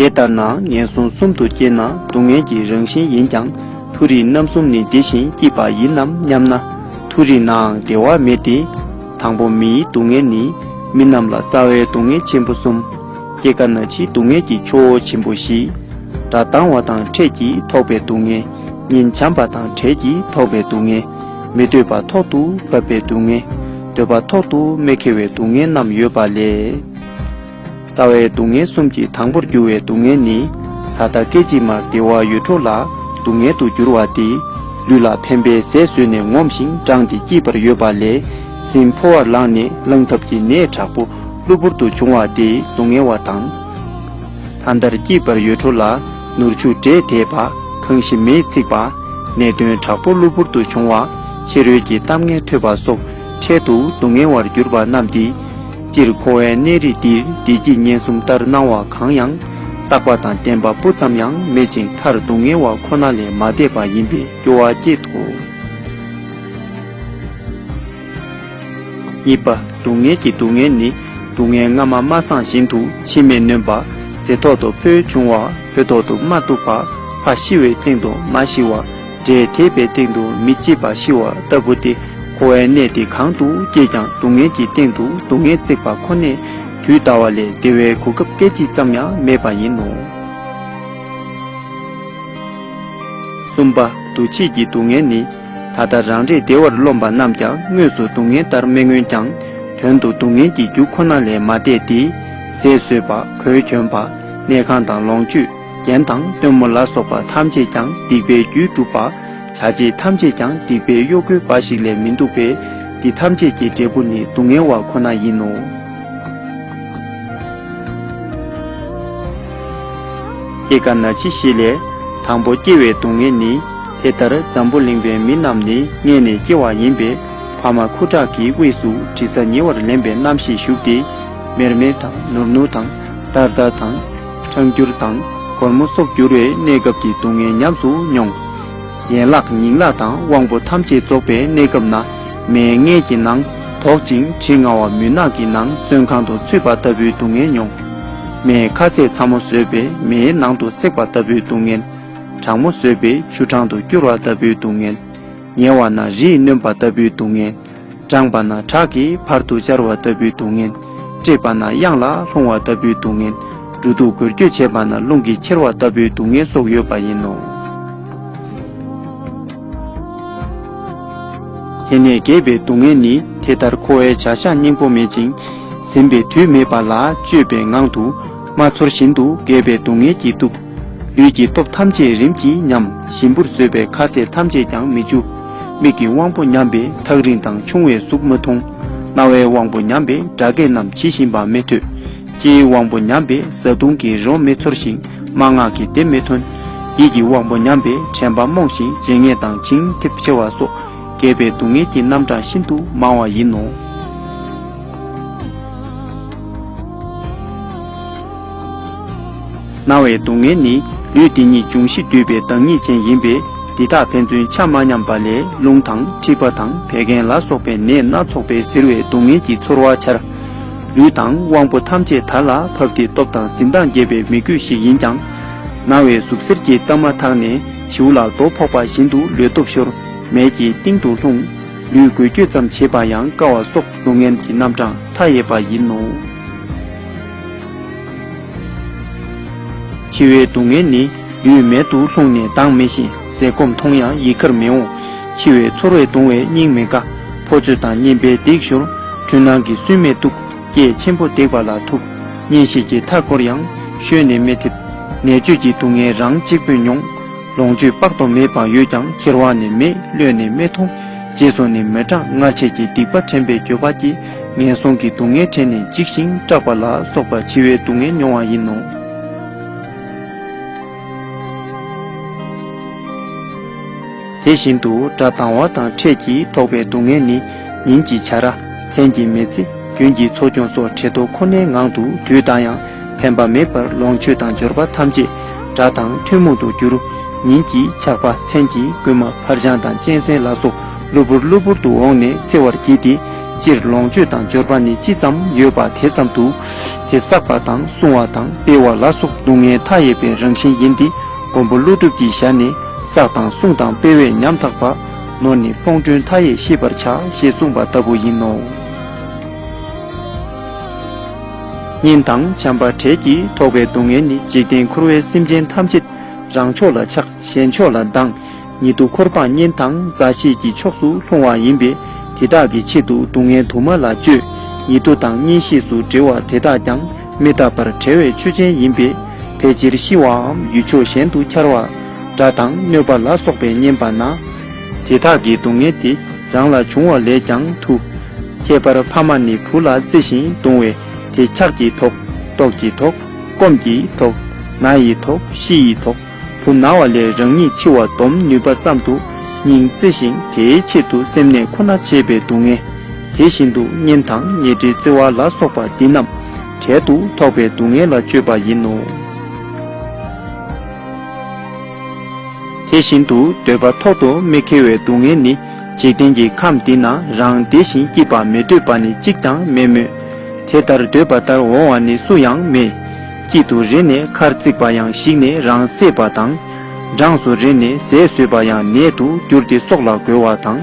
དེ་ལྟར་ན་ངན་སོང་གསུམ་དུ་སྐྱེས་ན་སྡུག་བསྔལ་གྱི་རང་བཞིན་ཡིན་ཀྱང་མཐོ་རིས་རྣམ་གསུམ་ནི་དེ་བཞིན་སྐྱིད་པ་ཡིན་ནམ་སྙམ་ན། མཐོ་རིས་ནའང་བདེ་བ་མེད་དེ། དང་པོ་མིའི་སྡུག་བསྔལ་ནི་མི་རྣམས་ལ་རྩ་བའི་སྡུག་བསྔལ་ཆེན་པོ་གསུམ། སྐྱེ་རྒ་ན་འཆིའི་སྡུག་བསྔལ་གྱི་ཆུ་བོ་ཆེན་པོ་བཞི། དགྲ་སྡང་བ་དང་ཕྲད་ཀྱིས་ཐོགས་པའི་སྡུག་བསྔལ། ཉིན་བྱམས་པ་དང་བྲལ་གྱིས་ཐོགས་པའི་སྡུག་བསྔལ། མི་འདོད་པ་ཐོག་ཏུ་བབས་པའི་སྡུག་བསྔལ། འདོད་པ་ཐོག་ཏུ་མེ་ཁེལ་བའི་སྡུག་བསྔལ་རྣམས་ཡོད་པ་ལས། རྩ་བའི་སྡུག་བསྔལ་གསུམ་གྱི་དང་པོར་གྱུར་བའི་སྡུག་བསྔལ་ནི། ད་ལྟ་སྐད་ཅིག་མར་བདེ་བ་ཡོད་འཕྲོ་ལ་སྡུག་བསྔལ་དུ་གྱུར་བ་སྟེ། ལུས་ལ་ཕན་པའི་ཟས་ཟོས་ནས་ངོམས་ཤིང་འགྲངས་ཏེ་སྐྱིད་པར་ཡོད་པ་ལས། སྲིན་ཕོ་བར་ལངས་ནས་བླངས་ཐབས་ཀྱི་ནད་དྲག་པོ་གློ་བུར་དུ་བྱུང་བ་དེས་སྡུག་བསྔལ་བ་དང། ད་ལྟར་སྐྱིད་པར་ཡོད་འཕྲོ་ལ་ནོར་འཆུག་འདྲེས་དེས་བ་གང་ཞིམ་མེས་འཚིག་པ། ནད་གདོན་དྲག་པོ་གློ་བུར་དུ་བྱུང་བ། ཕྱི་རོལ་གྱི་གཏམ་ངན་ཐོས་པ་སོགས་འཕྲལ་དུ་སྡུག་བསྔལ་བར་གྱུར་པ་རྣམས་ཏེ། སྤྱིར་འཁོར་བའི་གནས་རིས་འདིར་བདེ་སྐྱིད་ངན་གསུམ་ལྟར་སྣང་བ་གང་ཡང། རྟག་པ་དང་བདེན་པ་སྤུ་ཙམ་ཡང་མེད་ཅིང་མཐར་སྡུག་བསྔལ་བ་ཁོ་ན་ལས་མ་འདས་པ་ཡིན་པའི་སྐྱོ་བ་སྐྱེད་དོ། གཉིས་པ། སྡུག་བསྔལ་གྱི་སྡུག་བསྔལ་ནི། སྡུག་བསྔལ་སྔ་མ་མ་སངས་བཞིན་དུ་འཆི་མེད་ནོན་པ། རྫས་ཐོག་ཏུ་ཕོ་བྱུང་བ་ཕོ་ཐོག་ཏུ་མ་གཏུགས་པ། ཕ་ཤི་བའི་སྟེང་དུ་མ་ཤི་བ། འབྲས་དེད་པའི་སྟེང་དུ་མི་སྐྱེས་པ་ཤི་བ་ལྟ་བུ་སྟེ། འཁོར་བའི་གནས་དེ་གང་དུ་སྐྱེས་ཀྱང་སྡུག་བསྔལ་གྱི་སྟེང་དུ་སྡུག་བསྔལ་བརྩེགས་པ་ཁོ་ནས། དུས་འདའ་བ་ལས་བདེ་བའི་གོ་སྐབས་སྐད་ཅིག་ཙམ་ཡང་མེད་པ་ཡིན་ནོ། གསུམ་པ། འདུ་བྱེད་ཀྱི་སྡུག་བསྔལ་ནི། ད་ལྟ་རང་རེས་བདེ་བར་རློམ་པ་རྣམས་ཀྱང་དངོས་སུ་སྡུག་བསྔལ་ལྟར་མི་མངོན་ཀྱང། དོན་དུ་སྡུག་བསྔལ་གྱི་རྒྱུ་ཁོ་ན་ལས་མ་འདས་ཏེ། ཟས་ཟོས་པ་གོས་གྱོན་པ་གནས་ཁང་དང་ལོངས་སྤྱོད་རྒྱན་དང་སྟོན་མོ་ལ་སོགས་པ་ཐམས་ཅད་ཀྱང་སྡིག་པའི་རྒྱུས་གྲུབ་པ། བྱ་བྱེད་ཐམས་ཅད་ཀྱང་སྡིག་པའི་གཡོ་འགུལ་འབའ་ཞིག་ལས་མི་འདུག་པས་འདི་ཐམས་ཅད་ཀྱི་འབྲས་བུ་ནི་སྡུག་བསྔལ་བ་ཁོ་ན་ཡིན་ནོ། ཨེ་ཀ་ན་འཆི་ཞེས་ལས། དང་པོ་སྐྱེ་བའི་སྡུག་བསྔལ་ནི། དེ་ལྟར་འཛམ་བུ་གླིང་པའི་མི་རྣམས་ནི་མངལ་ནས་སྐྱེ་བ་ཡིན་པས་བར་མ་ཁུ་ཁྲག་གི་དབུས་སུ་དྲི་ཟ་ཉེ་བར་ལེན་པའི་རྣམ་ཤེས་ཞུགས་ཏེ། མེར་མེར་དང་ནུར་ནུར་དང་འདར་འདར་དང། འཁྲང་འགྱུར་དང་སྒོར་མོ་སོགས་འགྱུར་བའི་གནས་སྐབས་ཀྱི་སྡུག་བསྔལ་ཉམས་སུ་མྱོང། ཡན་ལག་ཉིང་ལག་དང་དབང་པོ་ཐམས་ཅད་རྫོགས་པའི་གནས་སྐབས་ན་མའི་མངལ་གྱི་ནང་དོག་ཅིང་དྲི་ང་བ་མུན་ནག་གི་ནང་བཙོན་ཁང་དུ་ཚུད་པ་ལྟ་བུའི་སྡུག་བསྔལ་མྱོང། མའི་ཁ་ཟས་ཚ་མོ་ཟོས་པས་མེའི་ནང་དུ་བསྲེགས་པ་ལྟ་བུའི་སྡུག་བསྔལ། གྲང་མོ་ཟོས་པས་ཆུ་གྲང་དུ་སྐྱུར་བ་ལྟ་བུའི་སྡུག་བསྔལ། ཉལ་བ་ན་རིས་གནོན་པ་ལྟ་བུའི་སྡུག་བསྔལ། འགྲངས་པ་ན་ཁྲག་གིས་བར་དུ་སྦྱར་བ་ལྟ་བུའི་སྡུག་བསྔལ། བཀྲེས་པ་ན་གཡང་ལ་ལྷུང་བ་ལྟ་བུའི་སྡུག་བསྔལ། འབྲུ་དུག་འགོས་འགྱོད་བྱེད་པ་ན་རླུང་གིས་འཁྱེར་བ་ལྟ་བུའི་སྡུག་བསྔལ་སོགས་ཡོད་པ་ཡིན་ནོ། དེ་ནས་བརྒྱད་པའི་སྡུག་བསྔལ་ནི་དེ་ལྟར་འཁོར་བའི་བྱ་བཞག་སྙིང་པོ་མེད་ཅིང་ཟིན་པའི་དུས་མེད་པ་ལ་སྤྱོད་པའི་ངང་དུ་མ་ཚོར་བཞིན་དུ་བརྒྱད་པའི་སྡུག་བསྔལ་གྱི་སྡུག་ལུས་ཀྱི་སྟོབས་ཐམས་ཅད་རིམ་གྱིས་ཉམས་ཞིམ་པོར་བཟོད་པས་ཁ་ཟས་ཐམས་ཅད་ཀྱང་མི་འཇུ། མིག་གི་དབང་པོ་ཉམས་པས་ཐག་རིང་དང་ཆུང་བའི་གཟུགས་མི་མཐོང། རྣ་བའི་དབང་པོ་ཉམས་པས་སྒྲ་སྐད་རྣམས་ཇི་བཞིན་པ་མི་ཐོས། ལྕེའི་དབང་པོ་ཉམས་པས་བཟའ་བཏུང་གི་རོ་མི་ཚོར་ཞིང་སྨྲ་ངག་གི་དེབ་མི་ཐོན། ཡིད་ཀྱི་དབང་པོ་ཉམས་པས་དྲན་པ་རྨོངས་ཤིང་བརྗེད་ངས་དང་བྱིང་འཐིབ་ཆེ་བ་སོགས་རྒས་པའི་སྡུག་བསྔལ་གྱི་རྣམ་གྲངས་ཤིན་ཏུ་མང་བ་ཡིན་ནོ། སྣང་བའི་སྡུག་བསྔལ་ནི་ལུས་འདི་ཉིད་འབྱུང་བཞི་འདུས་པའི་བདག་ཉིད་ཅན་ཡིན་པས་འདི་དག་ཕན་ཚུན་ཆ་མ་མཉམ་པ་ལས་རླུང་དང་མཁྲིས་པ་དང་བད་ཀན་ལ་སོགས་པའི་ནད་སྣ་ཚོགས་པས་གཟིར་བའི་སྡུག་བསྔལ་གྱི་ཚོར་བ་འཆར། ལུས་དང་དབང་པོ་ཐམས་ཅད་དར་ལ་བབས་ཏེ་སྟོབས་དང་གཟི་མདངས་རྒྱས་པའི་མི་རྒོད་ཞིག་ཡིན་ཀྱང། སྣང་བའི་ཟུག་གཟེར་གྱིས་བཏབ་མ་ཐག་ནས་བྱིའུ་ལ་རྡོ་ཕོག་པ་བཞིན་དུ་ལུས་སྟོབས་ཤོར་མལ་གྱི་གཏིང་དུ་ལྷུང། ལུས་འགུལ་སྐྱོད་ཙམ་བྱེད་པ་ཡང་དཀའ་བ་སོགས་སྡུག་བསྔལ་གྱི་རྣམ་གྲངས་མཐའ་ཡས་པ་ཡིན་ནོ། འཆི་བའི་སྡུག་བསྔལ་ནི་རྡུལ་མེད་དུ་ལྷུང་ནས་མདངས་མེད་བཞིན་ཟས་སྐོམ་མཐོང་ཡང་ཡིད་ཁར་མི་འོང། འཆི་བའི་ཚོར་བས་གདུང་བའི་སྙིང་མི་དགའ། ཕོ་ཚོད་དང་གཉེན་པའི་སྡིག་ཞོར། འཁྲུལ་སྣང་གི་སུན་མེད་སྡུག་སྐད་ཆེན་པོ་བརྡེག་པ་ལ་ཐུག། གཉེན་བཤེས་ཀྱི་མཐའ་འཁོར་ཡང་ཤོལ་ནས་མི་ཐེབས། ནད་བཅོས་ཀྱི་སྡུག་བསྔལ་རང་གཅིག་པུས་མྱོང། ལོངས་སྤྱོད་དཔག་ཏུ་མེད་པ་ཡོད་ཀྱང་ཁྱེར་བ་ནི་མེད་བློས་ནི་མི་ཐོངས། རྗེས་སུ་ནི་མི་འབྲང་སྔར་བྱས་ཀྱི་སྡིག་པ་དྲན་པའི་འགྱོད་པ་སྐྱེས། ངན་སོང་གི་སྡུག་བསྔལ་དྲན་ནས་འཇིགས་ཤིང་སྐྲག་པ་ལ་སོགས་པ་འཆི་བའི་སྡུག་བསྔལ་མྱོང་བ་ཡིན་ནོ། དེ་བཞིན་དུ་དགྲ་སྡང་བ་དང་འཕྲད་ཀྱིས་ཐོགས་པའི་སྡུག་བསྔལ་ནི་ཉིན་གྱི་བྱ་ར། མཚན་གྱི་མེ་ཚེ། རྒྱུན་གྱི་འཚོ་སྐྱོང་སོགས་བྲེལ་དོ་ཁོ་ནའི་ངང་དུ་དུས་འདའ་ཡང་ཕན་པ་མེད་པར་ལོངས་སྤྱོད་དང་འབྱོར་པ་ཐམས་ཅད་དགྲ་དང་ཐུན་མོང་དུ་འགྱུར། ཉིན་གྱི་ཆགས་པ་མཚན་གྱི་རྐུན་མ་འཕར་སྤྱང་དང་གཅན་གཟན་ལ་སོགས་གློ་བུར་གློ་བུར་དུ་འོངས་ནས་བརྩེ་བར་བགྱིས་ཏེ་སྤྱིར་ལོངས་སྤྱོད་དང་འབྱོར་པ་ནི་ཅི་ཙམ་ཡོད་པ་དེ་ཙམ་དུ། དེ་བསགས་པ་དང་སྲུང་བ་དང་སྤེལ་བ་ལ་སོགས་སྡུག་བསྔལ་མཐའ་ཡས་པའི་རང་བཞིན་ཡིན་ཏེ་མགོན་པོ་ཀླུ་སྒྲུབ་ཀྱི་ཞལ་ནས་བསགས་དང་སྲུང་དང་སྤེལ་བས་ཉམ་ཐག་པ། ནོར་ནི་ཕོངས་དྲུང་མཐའ་ཡས་ཤེས་པར་བྱ་ཞེས་གསུངས་པ་ལྟ་བུ་ཡིན་ནོ། གཉེན་དང་བྱམས་པ་བྲལ་གྱིས་ཐོགས་པའི་སྡུག་བསྔལ་ནི་འཇིག་རྟེན་འཁོར་བའི་སེམས་ཅན་ཐམས་ཅད་རང་ཕྱོགས་ལ་ཆགས་གཞན་ཕྱོགས་ལ་སྡང། ཉིད་དུ་འཁོར་འཕངས་གཉེན་དང་མཛའ་བཤེས་ཀྱི་ཕྱོགས་སུ་ལྷུང་བ་ཡིན་པས་དེ་དག་གི་ཆེད་དུ་སྡུག་བསྔལ་དུ་མ་ལ་སྤྱོད། ཉེ་དུ་དང་གཉེན་བཤེས་སུ་འབྲེལ་བ་དེ་དག་ཀྱང་མི་རྟག་པར་བྲལ་བའི་ཆོས་ཅན་ཡིན་པས་ཕལ་ཆེར་ཤི་བའམ་ཡུལ་ཕྱོགས་གཞན་དུ་འཁྱར་བ། དགྲ་དང་གནོད་པ་ལ་སོགས་པའི་གཉེན་པ་ན། དེ་དག་གི་སྡུག་བསྔལ་དེ་རང་ལ་འབྱུང་བ་ལས་ཀྱང་ཐུ། ཁྱད་པར་ཕ་མ་ནི་བུ་ལ་བརྩེ་བཞིན་གདུང་བས་དེ་འཁྱགས་ཀྱི་དོགས། ལྟོགས་ཀྱི་དོགས། སྐོམ་གྱི་དོགས། ན་ཡི་དོགས་ཤི་ཡི་དོགས། བུ་ན་བ་ལས་རང་ཉིད་འཆི་བ་སྡོམ་ནུས་པ་ཙམ་དུ་སྙིང་བརྩེ་ཞིང་དེའི་ཆེད་དུ་སེམས་ནད་ཁོ་ན་བྱེད་པའི་སྡུག་བསྔལ། དེ་བཞིན་དུ་གཉེན་དང་ཉེ་འབྲེལ་བརྩེ་བ་ལ་སོགས་པ་འདི་རྣམས་གྲལ་དུ་ཐོགས་པའི་སྡུག་བསྔལ་ལ་སྤྱོད་པ་ཡིན་ནོ། དེ་བཞིན་དུ་འདོད་པ་ཐོག་ཏུ་མི་ཁེལ་བའི་སྡུག་བསྔལ་ནི་འཇིག་རྟེན་གྱི་ཁམས་འདི་ན་རང་བདེ་ཞིང་སྐྱིད་པ་མི་འདོད་པ་ནི་གཅིག་ཀྱང་མེད་མོད། དེ་ལྟར་འདོད་པ་ལྟར་འོང་བ་ནི་སུ་ཡང་མེད། དཀྱིལ་དུ་རེ་ནས་མཁར་བརྩིགས་པ་ཡང་བཤིག་ནས་རང་བསྲེགས་པ་དང། འབྲངས་སུ་རེ་ནས་ཟས་ཟོས་པ་ཡང་ནད་དུ་འགྱུར་ཏེ་སྲོག་ལ་རྒོལ་བ་དང།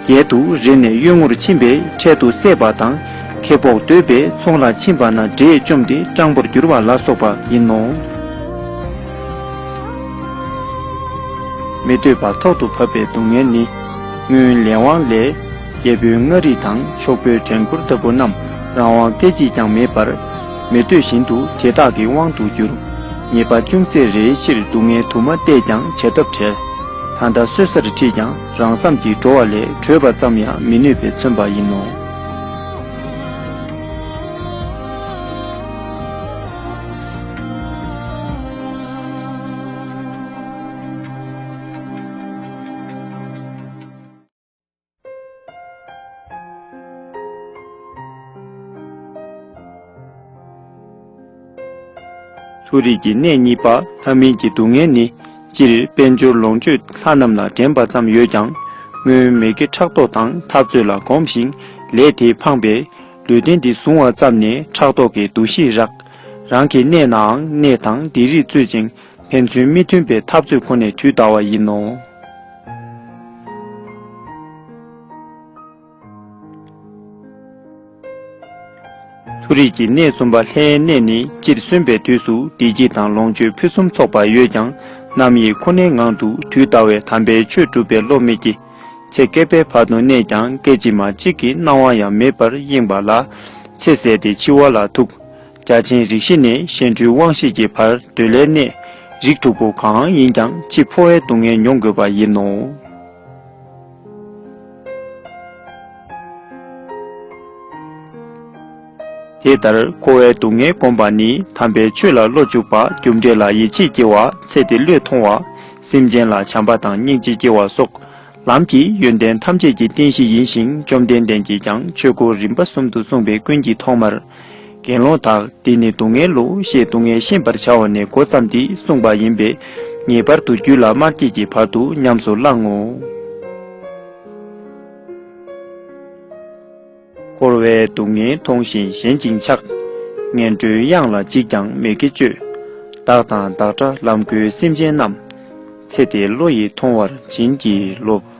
རྒྱལ་དུ་རེ་ནས་གཡོན་ངོར་ཕྱིན་པས་འཕྲལ་དུ་བསད་པ་དང། ཁེ་སྤོགས་འདོད་པས་ཚོང་ལ་ཕྱིན་པ་ན་དགྲས་བཅོམ་སྟེ་སྤྲང་པོར་འགྱུར་བ་ལ་སོགས་པ་ཡིན་ནོ། མི་འདོད་པ་ཐོག་ཏུ་བབ་པའི་སྡུག་བསྔལ་ནི། སྔོན་ལས་དབང་ལས། རྒྱལ་པོའི་མངའ་རིས་དང་ཕྱོགས་པོའི་བྲན་འཁོར་ལྟ་བུ་རྣམས་རང་དབང་སྐད་ཅིག་ཀྱང་མེད་པར། མི་འདོད་བཞིན་དུ་དེ་དག་གི་དབང་དུ་གྱུར། ཉེས་པ་ཅུང་ཟད་རེའི་ཕྱིར་སྡུག་བསྔལ་དུ་མ་བལྟས་ཀྱང་བྱ་ཐབས་བྲལ། ད་ལྟ་གསོད་སར་ཁྲིད་ཀྱང་རང་བསམ་གྱིས་འགྲོ་བ་ལས་བྲོས་པ་ཙམ་ཡང་མི་ནུས་པས་མཚོན་པ་ཡིན་ནོ། མཐོ་རིས་ཀྱི་གནས་གཉིས་པ་ལྷ་མིན་གྱི་སྡུག་བསྔལ་ནི་སྤྱིར་དཔལ་འབྱོར་ལོངས་སྤྱོད་ལྷ་རྣམས་ལ་འགྲན་པ་ཙམ་ཡོད་ཀྱང། སྔོན་མེད་ཀྱི་ཕྲག་དོག་དང་འཐབ་རྩོད་ལ་གོམས་ཤིང་ལས་དེས་འཕངས་པས། ལུས་རྟེན་འདི་བཟུང་བ་ཙམ་ནས་ཕྲག་དོག་གི་འདུ་ཤེས་རག། རང་གི་གནས་ནའང་གནས་དང་སྡེ་རིགས་རྩོད་ཅིང། ཕན་ཚུན་མི་མཐུན་པའི་འཐབ་རྩོད་ཁོ་ནས་དུས་འདའ་བ་ཡིན་ནོ། མཐོ་རིས་ཀྱི་གནས་གསུམ་པ་ལྷའི་གནས་ནི་སྤྱིར་སོན་པའི་དུས་སུ་བདེ་སྐྱིད་དང་ལོངས་སྤྱོད་ཕུན་སུམ་ཚོགས་པ་ཡོད་ཀྱང་རྣམ་དབྱེ་ཁོ་ནའི་ངང་དུ་དུས་འདའ་བས་དམ་པའི་ཆོས་སྒྲུབ་པའི་བློ་མི་སྐྱེ། ཚེ་བསྐལ་པའི་བར་དུ་གནས་ཀྱང་སྐད་ཅིག་མ་གཅིག་གི་སྣང་བ་ཡང་མེད་པར་གཡེངས་པ་ལ་ཚེ་ཟད་དེ་འཆི་བ་ལ་ཐུག། རྒྱ་ཆེན་རིགས་བཞི་ནས་གཤེན་སྤྲུལ་དབང་བཞི་ཀྱི་བར་གདོད་ལས་གནས་རིགས་དྲུག་པོ་གང་ཡིན་ཀྱང་འཆི་འཕོ་བའི་སྡུག་བསྔལ་མྱོང་དགོས་པ་ཡིན་ནོ། དེ་ལྟར་འཁོར་བའི་སྡུག་བསྔལ་བསྒོམ་པ་ནི་དམ་པའི་ཆོས་ལ་བློ་འཇུག་པ་རྒྱུ་འབྲས་ལ་ཡིད་ཆེས་སྐྱེ་བ་ཚེ་འདི་བློས་ཐོང་བ་སེམས་ཅན་ལ་བྱམས་པ་དང་སྙིང་རྗེ་སྐྱེ་བ་སོགས་ལམ་གྱི་ཡོན་ཏན་ཐམས་ཅད་ཀྱི་རྟེན་གཞི་ཡིན་ཞིང་བཅོམ་ལྡན་འདས་ཀྱིས་ཀྱང་ཆོས་སྐུ་རིམ་པ་གསུམ་དུ་གསུངས་པའི་ཀུན་གྱི་ཐོག་མར། དགེ་སློང་དག་འདི་ནི་སྡུག་བསྔལ་ལོ་ཞེས་སྡུག་བསྔལ་ཤེས་པར་བྱ་བ་ནས་འགོ་བརྩམས་ཏེ་གསུངས་པ་ཡིན་པས། ངེས་པར་དུ་རྒྱུད་ལ་མར་བསྐྱེད་ཀྱི་བར་དུ་ཉམས་སུ་བླང་ངོ། འཁོར་བའི་སྡུག་བསྔལ་མཐོང་བཞིན་ཞེན་ཅིང་ཆགས། ངན་འགྲོའི་གཡང་ལ་ཅིས་ཀྱང་མི་དགེ་སྤྱོད། བདག་དང་བདག་འདྲ་ལམ་གོལ་སེམས་ཅན་རྣམས། ཚེ་འདི་བློ་ཡིས་མཐོང་བར་བྱིན་གྱིས་རློབས།